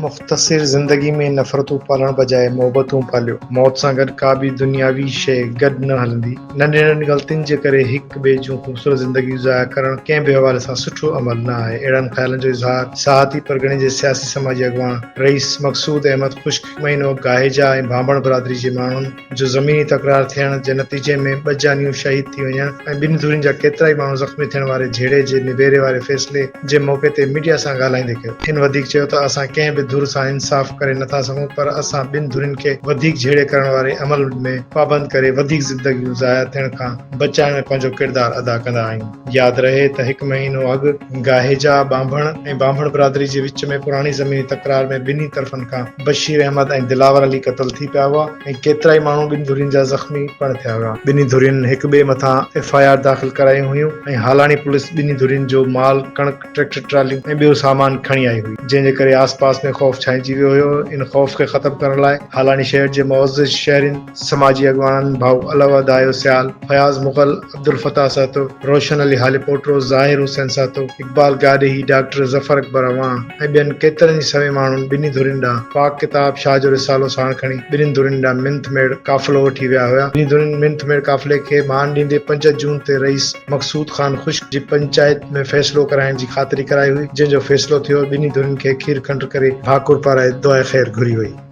مختصر زندگي ۾ نفرتون پالڻ بجاء محبتون پاليو. موت سان گڏ ڪا به دنياوي شيء گڏ نه هلندي. ننڍين ننڍين غلطين جي ڪري هڪ ٻئي جون خوبصورت زندگيون ضايع ڪرڻ ڪنهن به حوالي سان سٺو عمل نه آهي. اهڙن خيالن جو اظهار ساهتي پرڳڻي جي سياسي سماجي اڳواڻ رئيس مقصود احمد خوش مهينو گاهيجا ۽ ڀانڀڻ برادري جي ماڻهن جو زميني تڪرار ٿيڻ جي نتيجي ۾ ٻه جانيون شهيد ٿي وڃڻ ۽ ٻن ڌرين جا ڪيترائي ماڻهو زخمي ٿيڻ واري جهيڙي جي نبيري واري فيصلي جي موقعي تي ميڊيا سان ڳالهائيندي ڪيو. هن وڌيڪ چيو ته اسان ڪنهن به ڌر سان انصاف ڪري نٿا سگهون پر اسان ٻن ڌرين کي وڌيڪ جهيڙي ڪرڻ واري عمل ۾ پابند ڪري وڌيڪ زندگيون ضايع ٿيڻ کان بچائڻ ۾ پنهنجو ڪردار ادا ڪندا آهيون. ياد رهي ته هڪ مهينو اڳ گاهيجا ٻانڀڻ ۽ ٻانڀڻ برادري جي وچ ۾ پراڻي زميني تڪرار ۾ ٻنهي طرفن کان بشير احمد ۽ دلاور علي قتل ٿي پيا هئا ۽ ڪيترائي ماڻهو ٻن ڌرين جا زخمي پڻ ٿيا هيا. ٻنهي ڌرين هڪ ٻئي مٿان ايف آء آر داخل ڪرايون هيون ۽ هالاڻي پوليس ٻنهي ڌرين جو مال، ڪڻڪ، ٽريڪٽر ٽراليون ۽ ٻيو سامان کڻي آئي هئي، جنهن جي ڪري آسپاس ۾ خوف ڇائنجي ويو هيو، ان خوف کي ختم ڪرڻ لاء هالاڻي شهر جي معزز شهرين، سماجي اڳواڻن ڀائو علو ادايو سيال، فياض مغل، عبدالفتاح سهتو، روشن علي هاليپوٽو، ظاهر حسين سهتو، اقبال گاڏهي، ڊاڪٽر ظفر اڪبر اعواڻ ۽ ٻين ڪيترن ئي سوين ماڻهن ٻنهي ڌرين ڏانهن پاڪ ڪتاب شاهه جو رسالو ساڻ کڻي ٻنهين ڌرين ڏانهن منٿ ميڙ قافلو وٺي ويا هيا. ٻنهي ڌرين منٿ ميڙ قافلي کي مان ڏيندي پنج جون تي رئيس مقصود خان خشڪ جي پنچائت ۾ فيصلو ڪرائڻ جي خاطري ڪرائي هئي جنهن جو فيصلو ٿيو ۽ ٻنهي ڌرين کي کير کنڊ ڪري ڀاڪر پارائي دعائي خير گهري وئي.